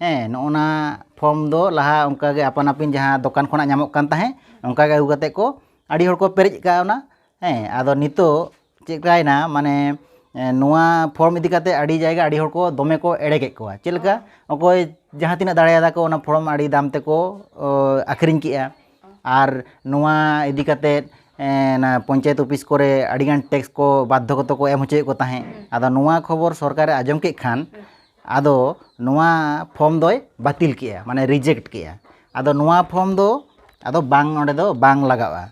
ᱦᱮᱸ ᱱᱚᱜᱼᱚ ᱱᱟ ᱯᱷᱚᱨᱢ ᱫᱚ ᱞᱟᱦᱟ ᱚᱱᱠᱟ ᱜᱮ ᱟᱯᱟᱱ ᱟᱹᱯᱤᱱ ᱡᱟᱦᱟᱸ ᱫᱚᱠᱟᱱ ᱠᱷᱚᱱᱟᱜ ᱧᱟᱢᱚᱜ ᱠᱟᱱ ᱛᱟᱦᱮᱸᱫ ᱚᱱᱠᱟ ᱜᱮ ᱟᱹᱜᱩ ᱠᱟᱛᱮᱫ ᱠᱚ ᱟᱹᱰᱤ ᱦᱚᱲ ᱠᱚ ᱯᱮᱨᱮᱡ ᱠᱟᱣᱱᱟ ᱦᱮᱸ ᱟᱫᱚ ᱱᱤᱛᱚᱜ ᱪᱮᱫᱠᱟᱭᱱᱟ ᱢᱟᱱᱮ ᱱᱚᱣᱟ ᱯᱷᱚᱨᱢ ᱤᱫᱤ ᱠᱟᱛᱮᱫ ᱟᱹᱰᱤ ᱡᱟᱭᱜᱟ ᱟᱹᱰᱤ ᱦᱚᱲ ᱠᱚ ᱫᱚᱢᱮ ᱠᱚ ᱮᱲᱮ ᱠᱮᱫ ᱠᱚᱣᱟ ᱪᱮᱫ ᱞᱮᱠᱟ ᱚᱠᱚᱭ ᱡᱟᱦᱟᱸ ᱛᱤᱱᱟᱹᱜ ᱫᱟᱲᱮᱭᱟᱫᱟ ᱠᱚ ᱚᱱᱟ ᱯᱷᱚᱨᱢ ᱟᱹᱰᱤ ᱫᱟᱢ ᱛᱮᱠᱚ ᱟᱹᱠᱷᱨᱤᱧ ᱠᱮᱫᱼᱟ ᱟᱨ ᱱᱚᱣᱟ ᱤᱫᱤ ᱠᱟᱛᱮᱫ ᱚᱱᱟ ᱯᱚᱧᱪᱟᱭᱮᱛ ᱚᱯᱷᱤᱥ ᱠᱚᱨᱮ ᱟᱹᱰᱤᱜᱟᱱ ᱴᱮᱠᱥ ᱠᱚ ᱵᱟᱫᱽᱫᱷᱚ ᱜᱚᱛᱚ ᱠᱚ ᱮᱢ ᱦᱚᱪᱚᱭᱮᱫ ᱠᱚ ᱛᱟᱦᱮᱸᱫ ᱟᱫᱚ ᱱᱚᱣᱟ ᱠᱷᱚᱵᱚᱨ ᱥᱚᱨᱠᱟᱨᱮ ᱟᱸᱡᱚᱢ ᱠᱮᱫ ᱠᱷᱟᱱ ᱟᱫᱚ ᱱᱚᱣᱟ ᱯᱷᱚᱨᱢ ᱫᱚᱭ ᱵᱟᱹᱛᱤᱞ ᱠᱮᱜᱼᱟ ᱢᱟᱱᱮ ᱨᱤᱡᱮᱠᱴ ᱠᱮᱜᱼᱟ ᱟᱫᱚ ᱱᱚᱣᱟ ᱯᱷᱚᱨᱢ ᱫᱚ ᱟᱫᱚ ᱵᱟᱝ ᱚᱸᱰᱮ ᱫᱚ ᱵᱟᱝ ᱞᱟᱜᱟᱜᱼᱟ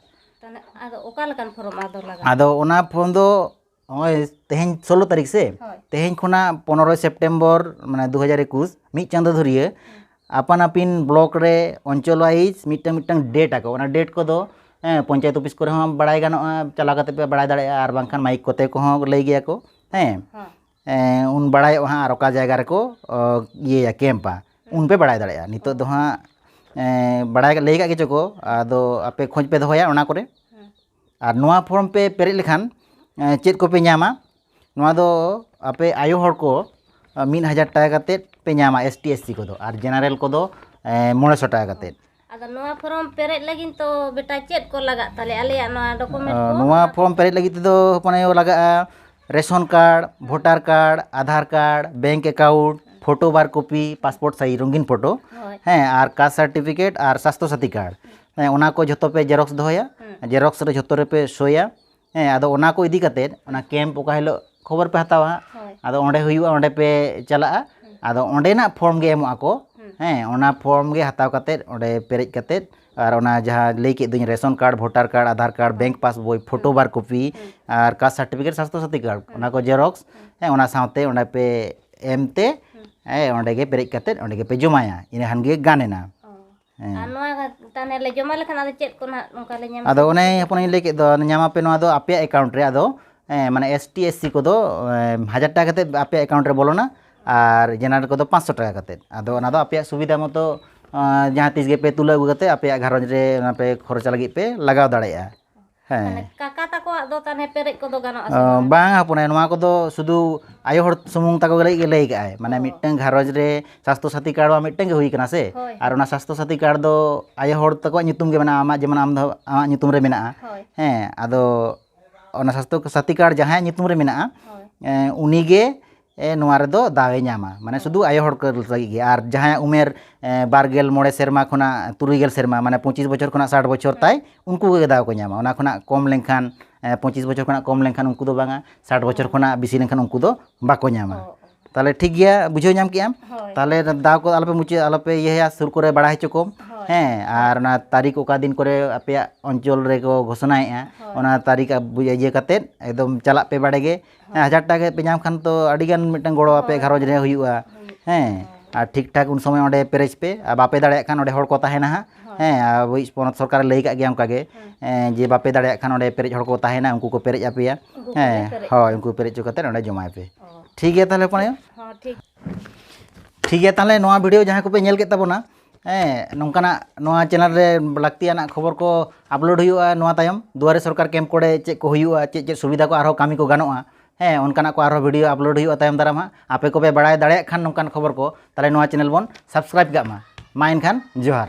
ᱟᱫᱚ ᱚᱠᱟ ᱞᱮᱠᱟᱱ ᱯᱷᱚᱨᱢ ᱟᱫᱚ ᱞᱟᱜᱟᱜᱼᱟ ᱟᱫᱚ ᱚᱱᱟ ᱯᱷᱚᱨᱢ ᱫᱚ ᱱᱚᱜᱼᱚᱭ ᱛᱮᱦᱮᱧ ᱥᱳᱞᱳ ᱛᱟᱹᱨᱤᱠᱷ ᱥᱮ ᱛᱮᱦᱮᱧ ᱠᱷᱚᱱᱟᱜ ᱯᱚᱱᱨᱚᱭ ᱥᱮᱯᱴᱮᱢᱵᱚᱨ ᱢᱟᱱᱮ ᱫᱩ ᱦᱟᱡᱟᱨ ᱮᱠᱩᱥ ᱢᱤᱫ ᱪᱟᱸᱫᱚ ᱫᱷᱩᱨᱤᱭᱟᱹ ᱟᱯᱟᱱ ᱟᱹᱯᱤᱱ ᱵᱞᱚᱠ ᱨᱮ ᱚᱧᱪᱚᱞ ᱳᱣᱟᱭᱤᱡ ᱢᱤᱫᱴᱟᱝ ᱢᱤᱫᱴᱟᱝ ᱰᱮᱴ ᱟᱠᱚ ᱚᱱᱟ ᱰᱮᱴ ᱠᱚᱫᱚ ᱦᱮᱸ ᱯᱚᱧᱪᱟᱭᱮᱛ ᱚᱯᱷᱤᱥ ᱠᱚᱨᱮ ᱦᱚᱸ ᱵᱟᱲᱟᱭ ᱜᱟᱱᱚᱜᱼᱟ ᱪᱟᱞᱟᱣ ᱠᱟᱛᱮ ᱯᱮ ᱵᱟᱲᱟᱭ ᱫᱟᱲᱮᱭᱟᱜᱼᱟ ᱟᱨ ᱵᱟᱝᱠᱷᱟᱱ ᱢᱟᱭᱤᱠ ᱠᱚᱛᱮ ᱠᱚᱦᱚᱸ ᱞᱟᱹᱭ ᱜᱮᱭᱟ ᱠᱚ ᱦᱮᱸ ᱩᱱ ᱵᱟᱲᱟᱭᱚᱜᱼᱟ ᱦᱟᱸᱜ ᱟᱨ ᱚᱠᱟ ᱡᱟᱭᱜᱟ ᱨᱮᱠᱚ ᱤᱭᱟᱹᱭᱟ ᱠᱮᱢᱯᱟ ᱩᱱᱯᱮ ᱵᱟᱲᱟᱭ ᱫᱟᱲᱮᱭᱟᱜᱼᱟ ᱱᱤᱛᱚᱜ ᱫᱚ ᱦᱟᱸᱜ ᱵᱟᱲᱟᱭ ᱞᱟᱹᱭ ᱠᱟᱜ ᱜᱮᱪᱚ ᱠᱚ ᱟᱫᱚ ᱟᱯᱮ ᱠᱷᱚᱡᱽ ᱯᱮ ᱫᱚᱦᱚᱭᱟ ᱚᱱᱟ ᱠᱚᱨᱮ ᱟᱨ ᱱᱚᱣᱟ ᱯᱷᱨᱚᱢ ᱯᱮ ᱯᱮᱨᱮᱡ ᱞᱮᱠᱷᱟᱱ ᱪᱮᱫ ᱠᱚᱯᱮ ᱧᱟᱢᱟ ᱱᱚᱣᱟ ᱫᱚ ᱟᱯᱮ ᱟᱭᱳ ᱦᱚᱲ ᱠᱚ ᱢᱤᱫ ᱦᱟᱡᱟᱨ ᱴᱟᱠᱟ ᱠᱟᱛᱮᱫ ᱯᱮ ᱧᱟᱢᱟ ᱮᱥ ᱴᱤ ᱮᱥ ᱥᱤ ᱠᱚᱫᱚ ᱟᱨ ᱡᱮᱱᱟᱨᱮᱞ ᱠᱚᱫᱚ ᱢᱚᱬᱮ ᱥᱚ ᱴᱟᱠᱟ ᱠᱟᱛᱮᱫ ᱟᱫᱚ ᱱᱚᱣᱟ ᱯᱷᱚᱨᱚᱢ ᱯᱮᱨᱮᱡ ᱞᱟᱹᱜᱤᱫ ᱛᱚ ᱵᱮᱴᱟ ᱪᱮᱫ ᱠᱚ ᱞᱟᱜᱟᱜ ᱛᱟᱞᱮ ᱟᱞᱮᱭᱟᱜ ᱱᱚᱣᱟ ᱰᱚᱠᱩᱢᱮᱱᱴ ᱠᱚ ᱱᱚᱣᱟ ᱯᱷᱚᱨᱚᱢ ᱯᱮᱨᱮᱡ ᱞᱟᱹᱜᱤᱫ ᱛᱮᱫᱚ ᱦᱚᱯᱚᱱ ᱟᱭᱳ ᱞᱟᱜᱟᱜᱼᱟ ration card voter card Aadhaar card bank account photo ᱵᱟᱨ ᱠᱚᱯᱤ ᱯᱟᱥᱯᱳᱨᱴ ᱥᱟᱭᱤᱡᱽ ᱨᱚᱝᱜᱤᱱ ᱯᱷᱳᱴᱳ ᱦᱳᱭ ᱦᱮᱸ ᱟᱨ ᱠᱟᱥᱴ ᱥᱟᱨᱴᱤᱯᱷᱤᱠᱮᱴ ᱟᱨ ᱥᱟᱥᱛᱷᱚ ᱥᱟᱛᱷᱤ ᱠᱟᱨᱰ ᱦᱮᱸ ᱚᱱᱟ ᱠᱚ ᱡᱷᱚᱛᱚ ᱯᱮ ᱡᱮᱨᱚᱠᱥ ᱫᱚᱦᱚᱭᱟ ᱡᱮᱨᱚᱠᱥ ᱨᱮ ᱡᱷᱚᱛᱚ ᱨᱮᱯᱮ ᱥᱳᱭᱟ ᱦᱮᱸ ᱟᱫᱚ ᱚᱱᱟ ᱠᱚ ᱤᱫᱤ ᱠᱟᱛᱮᱫ ᱚᱱᱟ ᱠᱮᱢᱯ ᱚᱠᱟ ᱦᱤᱞᱳᱜ ᱠᱷᱚᱵᱚᱨ ᱯᱮ ᱦᱟᱛᱟᱣᱟ ᱦᱟᱸᱜ ᱟᱫᱚ ᱚᱸᱰᱮ ᱦᱩᱭᱩᱜᱼᱟ ᱚᱸᱰᱮ ᱯᱮ ᱪᱟᱞᱟᱜᱼᱟ ᱟᱫᱚ ᱚᱸᱰᱮᱱᱟᱜ ᱯᱷᱨᱚᱢ ᱜᱮ ᱮᱢᱚᱜ ᱟᱠᱚ ᱦᱮᱸ ᱚᱱᱟ ᱯᱷᱨᱚᱢ ᱜᱮ ᱦᱟᱛᱟᱣ ᱠᱟᱛᱮᱫ ᱚᱸᱰᱮ ᱯᱮᱨᱮᱡ ᱠᱟᱛᱮᱫ ᱟᱨ ᱚᱱᱟ ᱡᱟᱦᱟᱸ ᱞᱟᱹᱭ ᱠᱮᱫ ᱫᱚᱧ ration card voter card Aadhaar card bank passbook photo ᱵᱟᱨ ᱠᱚᱯᱤ ᱟᱨ caste certificate Swasthya Sathi card ᱚᱱᱟ ᱠᱚ ᱡᱮᱨᱚᱠᱥ ᱦᱮᱸ ᱚᱱᱟ ᱥᱟᱶᱛᱮ ᱚᱸᱰᱮ ᱯᱮ ᱮᱢ ᱛᱮ ᱦᱮᱸ ᱚᱸᱰᱮ ᱜᱮ ᱯᱮᱨᱮᱡ ᱠᱟᱛᱮᱫ ᱚᱸᱰᱮ ᱜᱮᱯᱮ ᱡᱚᱢᱟᱭᱟ ᱤᱱᱟᱹ ᱠᱷᱟᱱ ᱜᱮ ᱜᱟᱱ ᱮᱱᱟ ᱟᱫᱚ ᱚᱱᱮ ᱦᱚᱯᱚᱱᱤᱧ ᱞᱟᱹᱭ ᱠᱮᱫ ᱫᱚ ᱧᱟᱢᱟᱯᱮ ᱱᱚᱣᱟ ᱫᱚ ᱟᱯᱮᱭᱟᱜ ᱮᱠᱟᱣᱩᱱᱴ ᱨᱮ ᱟᱫᱚ ᱢᱟᱱᱮ ᱮᱥ ᱴᱤ ᱮᱥ ᱥᱤ ᱠᱚᱫᱚ ᱦᱟᱡᱟᱨ ᱴᱟᱠᱟ ᱠᱟᱛᱮᱫ ᱟᱯᱮᱭᱟᱜ ᱮᱠᱟᱣᱩᱱᱴ ᱨᱮ ᱵᱚᱞᱚᱱᱟ ᱟᱨ ᱡᱮᱱᱟᱨᱮᱞ ᱠᱚᱫᱚ ᱯᱟᱸᱪᱥᱚ ᱴᱟᱠᱟ ᱠᱟᱛᱮᱫ ᱟᱫᱚ ᱚᱱᱟ ᱫᱚ ᱟᱯᱮᱭᱟᱜ ᱥᱩᱵᱤᱫᱷᱟ ᱢᱚᱛᱚ ᱡᱟᱦᱟᱸ ᱛᱤᱥ ᱜᱮᱯᱮ ᱛᱩᱞᱟᱹᱣ ᱟᱹᱜᱩ ᱠᱟᱛᱮᱫ ᱟᱯᱮᱭᱟᱜ ᱜᱷᱟᱨᱚᱸᱡᱽ ᱨᱮ ᱚᱱᱟ ᱯᱮ ᱠᱷᱚᱨᱪᱟ ᱞᱟᱹᱜᱤᱫ ᱯᱮ ᱞᱟᱜᱟᱣ ᱫᱟᱲᱮᱭᱟᱜᱼᱟ ᱦᱮᱸ ᱠᱟᱠᱟ ᱛᱟᱠᱚᱣᱟᱜ ᱫᱚ ᱛᱟᱦᱚᱞᱮ ᱯᱮᱨᱮᱡ ᱠᱚᱫᱚ ᱜᱟᱱᱚᱜᱼᱟ ᱥᱮ ᱵᱟᱝ ᱵᱟᱝ ᱦᱚᱯᱚᱱ ᱟᱭᱳ ᱱᱚᱣᱟ ᱠᱚᱫᱚ ᱥᱩᱫᱷᱩ ᱟᱭᱳ ᱦᱚᱲ ᱥᱩᱢᱩᱝ ᱛᱟᱠᱚ ᱞᱟᱹᱜᱤᱫ ᱜᱮ ᱞᱟᱹᱭ ᱠᱟᱜᱼᱟᱭ ᱢᱟᱱᱮ ᱢᱤᱫᱴᱟᱝ ᱜᱷᱟᱨᱚᱸᱡᱽ ᱨᱮ ᱥᱟᱥᱛᱷᱚ ᱥᱟᱛᱷᱤ ᱠᱟᱨᱰ ᱢᱟ ᱢᱤᱫᱴᱟᱝ ᱜᱮ ᱦᱩᱭ ᱠᱟᱱᱟ ᱥᱮ ᱟᱨ ᱚᱱᱟ ᱥᱟᱥᱛᱷᱚ ᱥᱟᱛᱷᱤ ᱠᱟᱨᱰ ᱫᱚ ᱟᱭᱳ ᱦᱚᱲ ᱛᱟᱠᱚᱣᱟᱜ ᱧᱩᱛᱩᱢ ᱜᱮ ᱢᱮᱱᱟᱜᱼᱟ ᱟᱢᱟᱜ ᱡᱮᱢᱚᱱ ᱟᱢ ᱫᱚ ᱟᱢᱟᱜ ᱧᱩᱛᱩᱢ ᱨᱮ ᱢᱮᱱᱟᱜᱼᱟ ᱦᱮᱸ ᱟᱫᱚ ᱚᱱᱟ ᱥᱟᱥᱛᱷᱚ ᱥᱟᱛᱷᱤ ᱠᱟᱨᱰ ᱡᱟᱦᱟᱸᱭᱟᱜ ᱧᱩᱛᱩᱢ ᱨᱮ ᱢᱮᱱᱟᱜᱼᱟ ᱩᱱᱤᱜᱮ ᱮ ᱱᱚᱣᱟ ᱨᱮᱫᱚ ᱫᱟᱣ ᱮ ᱧᱟᱢᱟ ᱢᱟᱱᱮ ᱥᱩᱫᱩ ᱟᱭᱳ ᱦᱚᱲ ᱠᱚ ᱞᱟᱹᱜᱤᱫ ᱜᱮ ᱟᱨ ᱡᱟᱦᱟᱸᱭᱟᱜ ᱩᱢᱮᱨ ᱵᱟᱨ ᱜᱮᱞ ᱢᱚᱬᱮ ᱥᱮᱨᱢᱟ ᱠᱷᱚᱱᱟᱜ ᱛᱩᱨᱩᱭ ᱜᱮᱞ ᱥᱮᱨᱢᱟ ᱢᱟᱱᱮ ᱯᱚᱸᱪᱤᱥ ᱵᱚᱪᱷᱚᱨ ᱠᱷᱚᱱᱟᱜ ᱥᱟᱴ ᱵᱚᱪᱷᱚᱨ ᱛᱟᱭ ᱩᱱᱠᱩ ᱠᱚᱜᱮ ᱫᱟᱣ ᱠᱚ ᱧᱟᱢᱟ ᱚᱱᱟ ᱠᱷᱚᱱᱟᱜ ᱠᱚᱢ ᱞᱮᱱᱠᱷᱟᱱ ᱯᱚᱸᱪᱤᱥ ᱵᱚᱪᱷᱚᱨ ᱠᱷᱚᱱᱟᱜ ᱠᱚᱢ ᱞᱮᱱᱠᱷᱟᱱ ᱩᱱᱠᱩ ᱫᱚ ᱵᱟᱝᱟ ᱥᱟᱴ ᱵᱚᱪᱷᱚᱨ ᱠᱷᱚᱱᱟᱜ ᱵᱮᱥᱤ ᱞᱮᱱᱠᱷᱟᱱ ᱩᱱᱠᱩ ᱫᱚ ᱵᱟᱠᱚ ᱧᱟᱢᱟ ᱛᱟᱦᱚᱞᱮ ᱴᱷᱤᱠ ᱜᱮᱭᱟ ᱵᱩᱡᱷᱟᱹᱣ ᱧᱟᱢ ᱠᱮᱜ ᱟᱢ ᱛᱟᱦᱚᱞᱮ ᱫᱟᱣ ᱠᱚ ᱟᱞᱚᱯᱮ ᱢᱩᱪᱟᱹᱫ ᱟᱞᱚᱯᱮ ᱤᱭᱟᱹᱭᱟ ᱥᱩᱨ ᱠᱚᱨᱮ ᱵᱟᱲᱟᱭ ᱦᱚᱪᱚ ᱠᱚᱢ ᱦᱮᱸ ᱟᱨ ᱚᱱᱟ ᱛᱟᱹᱨᱤᱠᱷ ᱚᱠᱟ ᱫᱤᱱ ᱠᱚᱨᱮ ᱟᱯᱮᱭᱟᱜ ᱚᱧᱪᱚᱞ ᱨᱮᱠᱚ ᱜᱷᱳᱥᱚᱱᱟᱭᱮᱜᱼᱟ ᱚᱱᱟ ᱛᱟᱹᱨᱤᱠᱷ ᱤᱭᱟᱹ ᱠᱟᱛᱮᱫ ᱮᱠᱫᱚᱢ ᱪᱟᱞᱟᱜ ᱯᱮ ᱵᱟᱲᱮ ᱜᱮ ᱦᱮᱸ ᱦᱟᱡᱟᱨ ᱴᱟᱠᱟ ᱠᱟᱛᱮᱫ ᱯᱮ ᱧᱟᱢ ᱠᱷᱟᱱ ᱛᱚ ᱟᱹᱰᱤ ᱜᱟᱱ ᱢᱤᱫᱴᱟᱝ ᱜᱚᱲᱚ ᱟᱯᱮ ᱜᱷᱟᱨᱚᱸᱡᱽ ᱨᱮ ᱦᱩᱭᱩᱜᱼᱟ ᱦᱮᱸ ᱟᱨ ᱴᱷᱤᱠ ᱴᱷᱟᱠ ᱩᱱ ᱥᱚᱢᱚᱭ ᱚᱸᱰᱮ ᱯᱮᱨᱮᱡᱽ ᱯᱮ ᱟᱨ ᱵᱟᱯᱮ ᱫᱟᱲᱮᱭᱟᱜ ᱠᱷᱟᱱ ᱚᱸᱰᱮ ᱦᱚᱲ ᱠᱚ ᱛᱟᱦᱮᱱᱟ ᱦᱟᱸᱜ ᱦᱮᱸ ᱟᱵᱚᱭᱤᱡ ᱯᱚᱱᱚᱛ ᱥᱚᱨᱠᱟᱨᱮ ᱞᱟᱹᱭ ᱠᱟᱜ ᱜᱮᱭᱟ ᱚᱱᱠᱟ ᱜᱮ ᱡᱮ ᱵᱟᱯᱮ ᱫᱟᱲᱮᱭᱟᱜ ᱠᱷᱟᱱ ᱚᱸᱰᱮ ᱯᱮᱨᱮᱡ ᱦᱚᱲ ᱠᱚ ᱛᱟᱦᱮᱱᱟ ᱩᱱᱠᱩ ᱠᱚ ᱯᱮᱨᱮᱡ ᱟᱯᱮᱭᱟ ᱦᱮᱸ ᱦᱳᱭ ᱩᱱᱠᱩ ᱯᱮᱨᱮᱡ ᱦᱚᱪᱚ ᱠᱟᱛᱮᱫ ᱚᱸᱰᱮ ᱡᱚᱢᱟᱭ ᱯᱮ ᱴᱷᱤᱠ ᱜᱮᱭᱟ ᱛᱟᱦᱚᱞᱮ ᱦᱚᱯᱚᱱ ᱟᱭᱳ ᱴᱷᱤᱠ ᱜᱮᱭᱟ ᱛᱟᱦᱚᱞᱮ ᱱᱚᱣᱟ ᱵᱷᱤᱰᱤᱭᱳ ᱡᱟᱦᱟᱸᱭ ᱠᱚᱯᱮ ᱧᱮᱞ ᱠᱮᱫ ᱛᱟᱵᱚᱱᱟ ᱦᱮᱸ ᱱᱚᱝᱠᱟᱱᱟᱜ ᱱᱚᱣᱟ ᱪᱮᱱᱮᱞ ᱨᱮ ᱞᱟᱹᱠᱛᱤᱭᱟᱱᱟᱜ ᱠᱷᱚᱵᱚᱨ ᱠᱚ ᱟᱯᱞᱳᱰ ᱦᱩᱭᱩᱜᱼᱟ ᱱᱚᱣᱟ ᱛᱟᱭᱚᱢ ᱫᱩᱣᱟᱨᱮ ᱥᱚᱨᱠᱟᱨ ᱠᱮᱢᱯ ᱠᱚᱨᱮ ᱪᱮᱫ ᱠᱚ ᱦᱩᱭᱩᱜᱼᱟ ᱪᱮᱫ ᱪᱮᱫ ᱥᱩᱵᱤᱫᱷᱟ ᱠᱚ ᱟᱨᱦᱚᱸ ᱠᱟᱹᱢᱤ ᱠᱚ ᱜᱟᱱᱚᱜᱼᱟ ᱦᱮᱸ ᱚᱱᱠᱟᱱᱟᱜ ᱠᱚ ᱟᱨᱦᱚᱸ ᱵᱷᱤᱰᱤᱭᱳ ᱟᱯᱞᱳᱰ ᱦᱩᱭᱩᱜᱼᱟ ᱛᱟᱭᱚᱢ ᱫᱟᱨᱟᱢ ᱦᱟᱸᱜ ᱟᱯᱮ ᱠᱚᱯᱮ ᱵᱟᱲᱟᱭ ᱫᱟᱲᱮᱭᱟᱜ ᱠᱷᱟᱱ ᱱᱚᱝᱠᱟᱱ ᱠᱷᱚᱵᱚᱨ ᱠᱚ ᱛᱟᱦᱚᱞᱮ ᱱᱚᱣᱟ ᱪᱮᱱᱮᱞ ᱵᱚᱱ ᱥᱟᱵᱥᱠᱨᱟᱭᱤᱵᱽ ᱠᱟᱜ ᱢᱟ ᱢᱟ ᱮᱱᱠᱷᱟᱱ ᱡᱚᱦᱟᱨ